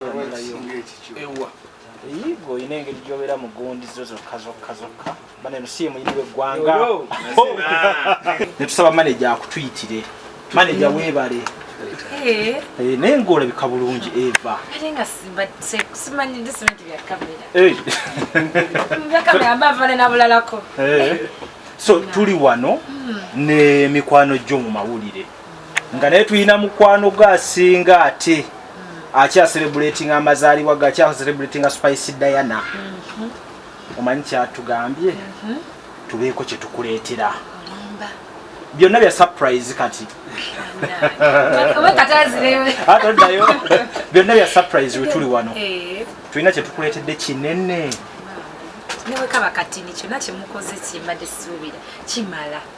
ewa eyigo olina engeri gyobeera mu gundi zo zokka zokka zokka bana eno si yemuyini weggwanga netusaba maneja akutuyitire maneja webale eh. Eh, naye ngaolabika bulungi eva so tuli wano hmm. ne mikwano gyo mu mawulire nga naye tulina mukwano gwe asinga ate akyaselebrating amazaalibwa ge akyaselebrating a spice diana mhm. omanyi kyatugambye mhm. tubeeko kyetukuleetera byonna bya surprise kati atoddayo byonna bya surprise wetuli wano eh. tulina kyetukuleetedde kinene newekaba katini kyonna kyemukoze kimbadde siwubira kimala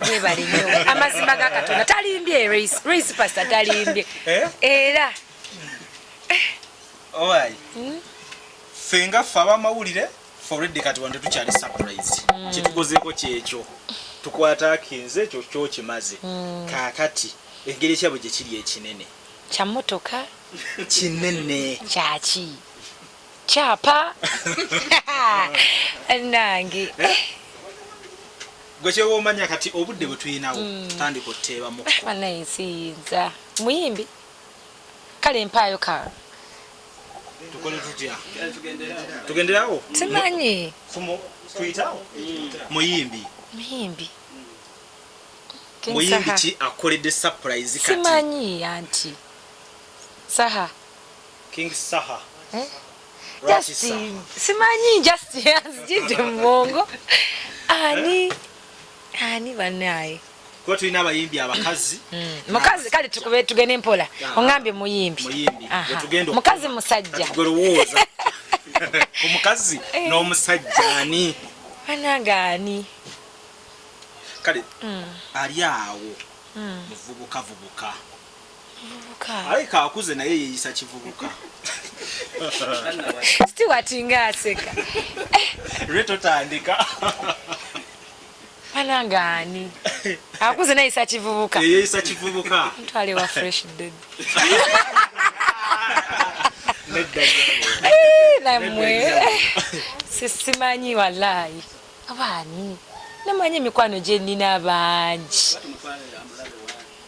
webale nyo amazima ga katonda talimbye race race pastor talimbye eh? era owai hmm? fenga ffe abamawulire foredi kati wante tukyali surprise hmm. kyetukozeeko kyekyo tukwata akinze ekyo kyokimaze hmm. kakati engeri ekyabwe gyekiri ekinene kyamotoka kinene kyaki kyapa nange eh? gwe kyewa omanya kati obudde bwe tulinawo hmm. tandika oteebamuanaye eh, nsiyinza muyimbi kale empaayo ka tukole tutya tugenderawo simanyi tuyitawo muyimbi muyimbi muyimbi ki akoledde surprise kati simanyi anti saha King Saha. Eh? Just simanyi just azijidde mu bwongo ani eh? ani banaye kuba tulina abayimbi abakazi mm. mukazi kale tukube tugende mpola ah. ongambye muyimbi mukazi musajja omukazi eh. n'omusajja ani banange ani kale mm. ali awo mm. muvubukavubuka ayi kakuze naye yeyisa kivubuka stewart nga aseka lwe totandika bananga ani akuze neyisa kivubuka yeyisa kivubuka ntwale wa fresh baby namwe sisimanyi walayi abaani namanyi emikwano gyenina bangi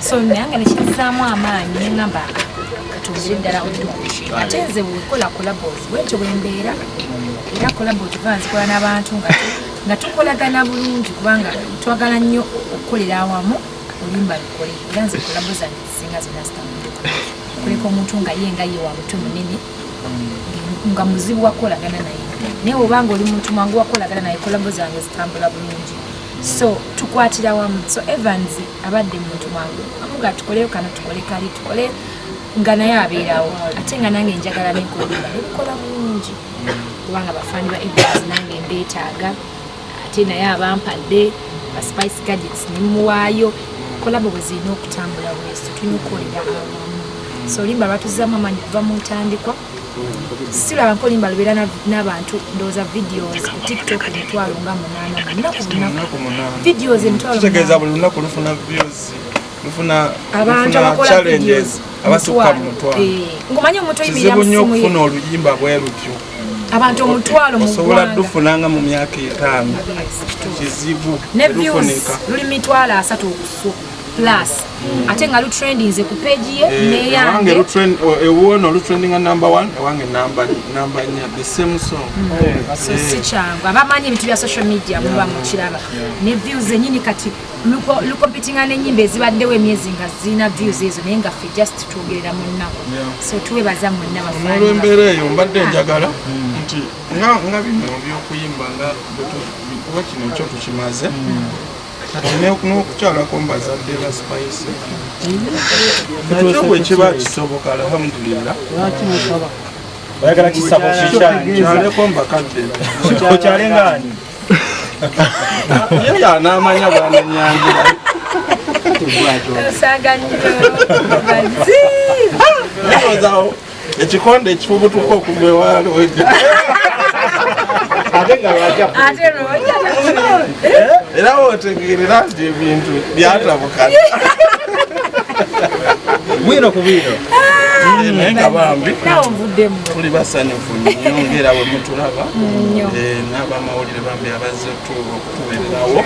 so nange nekizzaamu amaanyi neŋamba katongere ddala ate nze wekola colabos bwentyo bwembeera era colabo tuva nzikola n'abantu nga tukolagana bulungi kubanga twagala nnyo okukolera awamu olimba lukole era nze colabo zange zisinga zonna zitambula kuleka omuntu nga ye nga ye wa mutu munene nga muzibu wakolagana naye naye obanga oli muntu mwangu wakolagana naye colabo zange zitambula bulungi so tukwatira wamu so evans abadde muntu wangu amuga tukoleyo kano tukole kali tukole nga naye abeerawo ate nga nange njagala nenkolaa nekukola mungi kubanga bafaani ba evans nange mbeetaaga ate naye abampadde ba spice gadgets nemuwaayo kolabo bwe zirina okutambula bwezi tulina okukolera awamu so olimba batuzzamu amanyi kuva mu ntandikwa silaba nkolimba lubeera n'abantu ndowooza videos ku tiktok emitwalo nga munaana lunaku lunaku videos emitwalo kitegeeza buli lunaku lufuna videos lufuna abantu abakola videos abasukka mu mutwalo eh, ngomanyi omuntu oyimirira mu simu ye okufuna oluyimba bwe lutyo abantu omutwalo mu osobola dufuna nga mu myaka etaano kizibu ne views luli mitwalo asatu okusukka plus ate nga lutrendinze ku page ye eh, neyange ewuwono eh, eh, lutrendinga number one ewange number number nya the same song mm. so si kyangu abamanyi ebintu bya social media muba mukiraba ne views zenyini kati lukompitinga nenyimba ezibaddewo emyezi nga zirina views ezo naye nga fe just twogerera mu nnaku so tuwebaza mwenna bafaolwembeera eyo mbadde njagala mm. nti nga bino byokuyimba nga kuba kino kyo tukimaze mm. kati n'okukyalako mbazadde ba spice nakyo bwe kiba kisoboka alhamdulillah oyagala kisabo kikyaleko mbakadde okyale ngaani ye yanamanya bwananyangira Saga nyo. Bazi. ekikonde ekifubutuka okugwa ewaalo era wotegeerera nti ebintu byatabukana bwino ku bwino naye nga bambi tuli basanyufu nyo ngaera bwe mutulaba eh, n'abamawulire bambi abazze okutubeererawo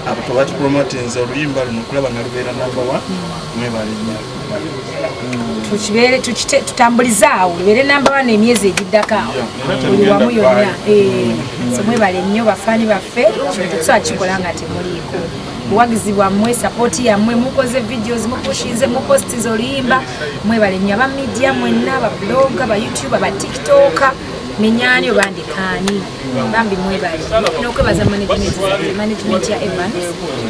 abo tebatupromotinze oluyimba luno okulaba nga lubeera nambawa mwebalinyo tukibeere tutambulize awo ebeere namba wana emyezi egiddako awo buli wamu yonna eh, so mwebale nnyo bafaani baffe kintu tusobola kikola nga temuliiko buwagizi bwammwe sapooti yammwe mukoze videos mupushinze mupostize oluyimba mwebale nnyo aba media mwenna babuloga bayoutube batiktoka nenyani oba ndikaani bambi mwebale nokwebaza management ya evans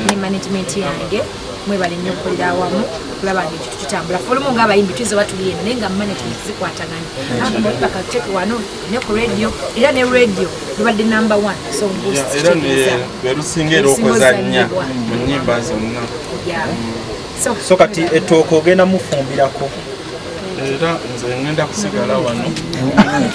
ne management yange mwebale nnyo okukolera awamu okulaba nga ekintu kitambula folumu nga abayimbi tuyinza oba tuli eno naye nga management zikwatagana bakateke wano ne ku radio era ne radio lubadde number one songusikirizalwerusinga era okuzannya mu nyimba zonna so kati ettooka ogenda mufumbirako era nze ngenda kusigala wano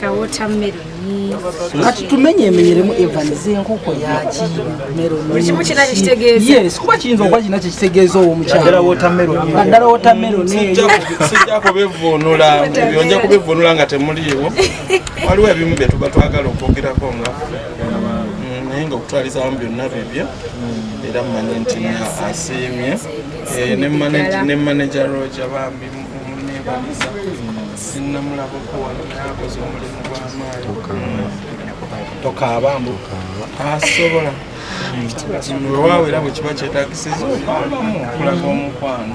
ka watermelon kati tumenye emenyeremu Evans enkoko yaki melon buli kimu kina kitegeeza yes kuba kiyinza okuba kina kitegeeza owo mukyala naddala watermelon naddala watermelon sijja kubivvuunula ebyo nja kubivvuunula nga temuliiwo waliwo ebimu bye tuba twagala okwogerako nga mm, naye nga okutwaliza wamu byonna bibyo era mmanyi nti asiimye eh, ne manager roja bambi munebaliza sinnamulabako wano naye akoze omulimu gw'amaanyi tokaaba mbu asobola wewaawo era bwe kiba kyetagisiza okwabamu okulaga omukwano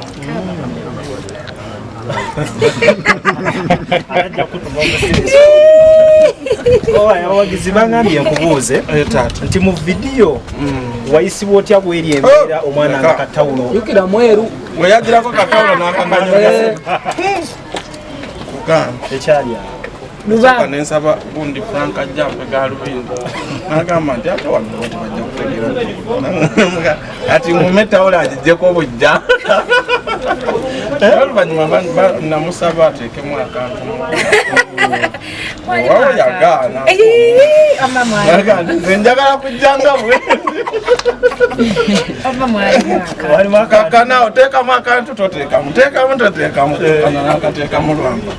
abawagizi bangambye nkubuuze eh, nti mu vidiyo hmm. wayisibwa otya bweri embeera oh, omwana nga katawulo oyagirako katawulo nakaganyoo eh. lubaga nensaba gundi frank ajja mpega lubindi nagamba nti ate wano bajja kutegera ati ngume tawula agijjeko bujja eh? oluvanyuma namusaba ateekemu akantu njagala kujjanga kakana oteekamu akantu toteekamu teekamu toteekamu nakateekamu lwamba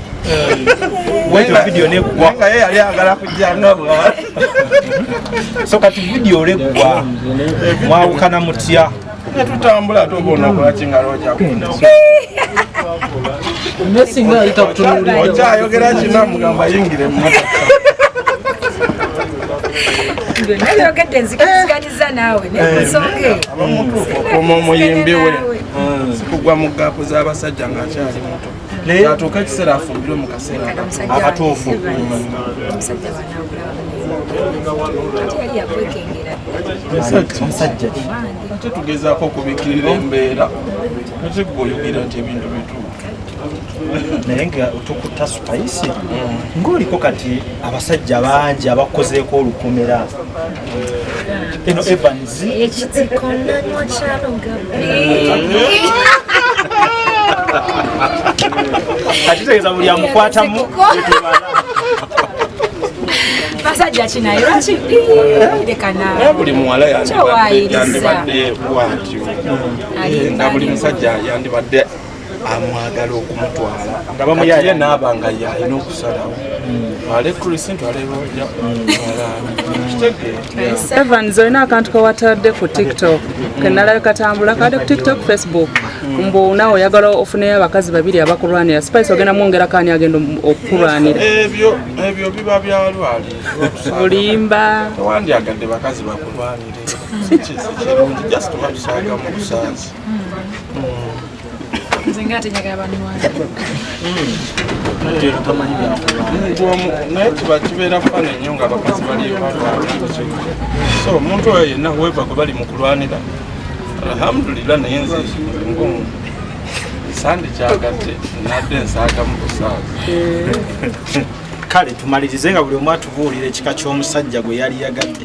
nga ye yali agala kujjanga bwa so kati vidiyo olegwa mwawukana mutya ne tutambula ate oba onakola kingalo okyayogera kina mugamba yingira emmotoka okuma omuyimbi we sikugwa mu gaapu z'abasajja ng'akyali muto kyatuuka ekiseera afumbirwe mu kaseera akatuufu musajja ate tugezaako okubikirira embeera ate gwe oyogera nti ebintu bituufu naye nga tukuta supayisi mm. ng'oliko kati abasajja bangi abakozeeko olukomera eno Evans ekitiko nanywa kyalo gabi akitegeeza buli amukwatamu basajja kinaye lwaki eh, buli muwala yandibadde bwatyo eh, nga buli musajja yandibadde amwagala okumutwala nga bamuyaya naaba nga yalina okusalawo ale krisi ntwalebooja evans olina akantu kawatadde ku tiktok kenalabe katambula kade ku tiktok facebook mbu nawe oyagala ofuneyo abakazi babiri abakulwanira spice ogenda mwongera kani agenda okukulwanira ebyo ebyo biba byalwali olimba tewandyagadde bakazi bakulwanire just wabisanga mu busanzi nze nga tenyagala banwala naye kiba kibeera fana nnyo nga abakazi baliyo balwana so omuntu oyo yenna weva gwe bali mu kulwanira alhamdulillah naye nze ngomu sandi kyagadde nadde nsaagamu kusaaga kale tumalirize nga buli omu atubuulira ekika ky'omusajja gwe yali yagadde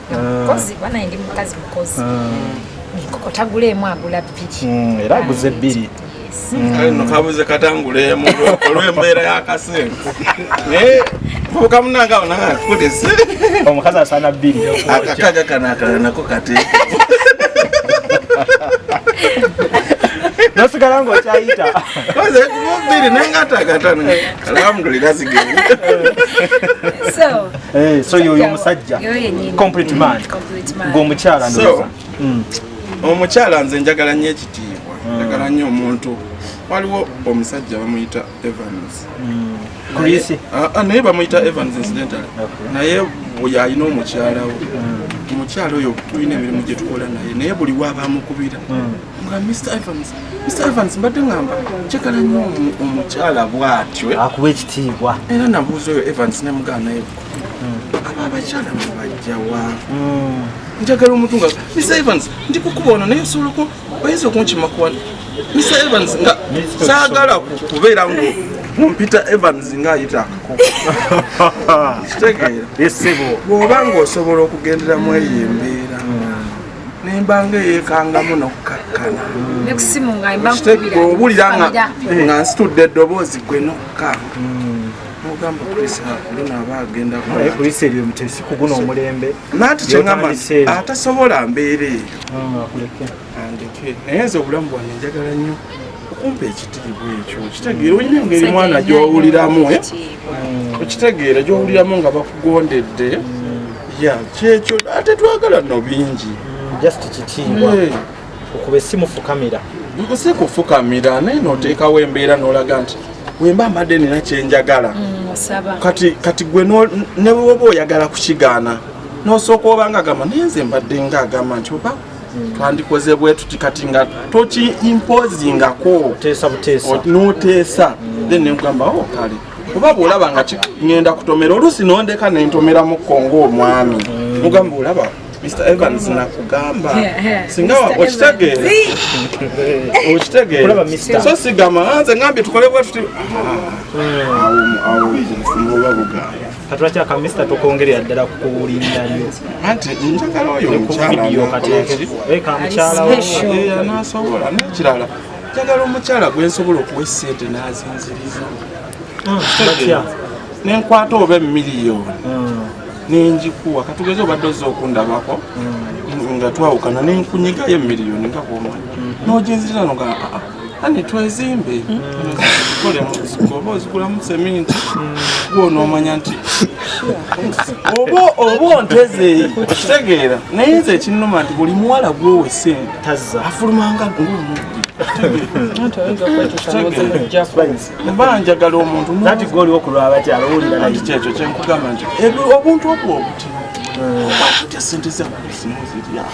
mukozi ah. banaye ndi mukazi mukozi ah. enkoko taguleemu agula bbiri hmm, era aguze ebbiri hmm. kabuze katanguleemu olwembeera yakasente eh, muvuka munange awo nanga akutese omukazi asaana bbiri akakaga kano akala nako kateeke nosigala nga okyayita koze kubiri nengatagata alhamdulillah sigeri Eh, so yoyo omusajja complete man ng'omukyala ndoza hmm. omukyala nze njagala nnyo ekitiibwa hmm. njagala nnyo omuntu waliwo omusajja bamuyita evans hmm. ah, ah, naye bamuyita evans incidentally naye oyo alina omukyala we omukyala oyo tulina emirimu gye tukola naye naye buli wabamukubira nga Mr Evans Mr Evans mbadde ngamba njagala nnyo omukyala bw'atyo eh? akuba ekitiibwa era nabuuza oyo Evans ne mugaana ye hmm. aba abakyala mubajjawa hmm. njagala omuntu nga Mr Evans ndi kukuba ono naye osobola ku oyinza okunkima ku wano Mr Evans nga saagala kubeera ngu mumpita Evans nga ayita akako kitegeera bw'oba ng'osobola okugendera mu eyo embeera nembanga eyekangamu nokkakkana obulira nga nsitudde eddoboozi gwe nokka ogamba kulisa lino aba agenda naye kulisa ebyo mutesi kuguna omulembe nanti kyengamba atasobola mbeera eyo ah, andeke naye nze obulamu bwange njagala nnyo okumpa ekitiibwa ekyo okitegeera olina engeri mwana gyowuliramu eh? okitegeera gyowuliramu nga bakugondedde ya kyekyo ate twagala no bingi just kitiibwa eh. okuba esimu fukamira si kufukamira naye noteekawo embeera nolaga nti wemba mbadde nina kyenjagala mm, kati kati gwe newoba oyagala kukigaana nosooka obanga agamba naye nze mbadde nga agamba nti oba twandikoze bwetuti kati nga toki imposingako noteesa then nekugamba o oh, kale oba bwolaba nga ngenda kutomera oluusi nondeka nentomeramuko ngaomwami mm. mugamba olaba mr evans nakugamba singa okitegeera okitegeera so sigamba nze ngambye tukole bwetuti ah, mm. awo awo oba bugamba katulaki aka mister tokongerera ddala ku kuwulirira lyo anti njagala oyo omukyala anasobola nekirala njagala omukyala gwe nsobola okuwa esente nazinziriza ah, nenkwata oba emiliyoni hmm. nenjikuwa katugeze obadde oza okundabako hmm. nga twawukana nenkunyigayo emiliyoni nga bwomanyi hmm. noginziriza nogaa ah, ah, ani twezimbe oba ozigulamu seminti gwonoomanya nti oba oba onteze kitegeera naye nze ekinnuma nti buli muwala gwowe sente afulumanga ngaomubbi mba njagala omuntu kyekyo kyenkugamba nti obuntu obwo obutimu okwatya sente zamuzimuziryao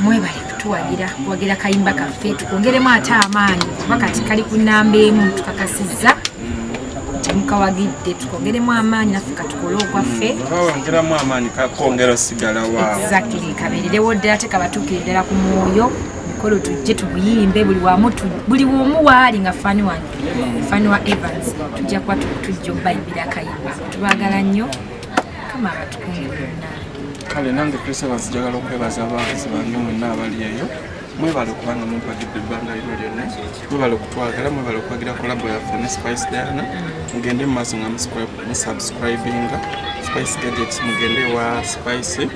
mwebale kutuwagira kuwagira kayimba kaffe tukwongeremu ate amaanyi kuba kati kali ku namba emu tukakasizza temukawagidde tukwongeremu amaanyi naffe katukole okwaffe wongeramu amaanyi kakongera osigala wa exactly kabeererewo ddala tekabatuukire ddala ku mwoyo kolo tujje tubuyimbe buli wamu buli womu waali nga fani wange fani wa evans tujja kuba tujja obayibira kayimba tubagala nnyo kale nange christmas njagala okwebaza abawagizi bange mwenna abali eyo mwebale okubanga mumpagidde ebbanga lino lyonna mwebale okutwagala mwebale okuwagira kolabo yaffe ne spice diana mugende mu maaso nga musubscribinga spice gadgets mugende wa spice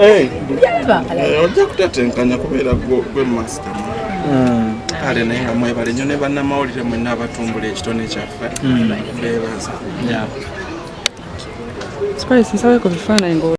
Eh, eh, ojja kutetenkanya kubeera gwe masita hmm. kale naye nga mwebale nyo ne bannamawulire mwenna abatumbula ekitone kyaffe hmm. bebaza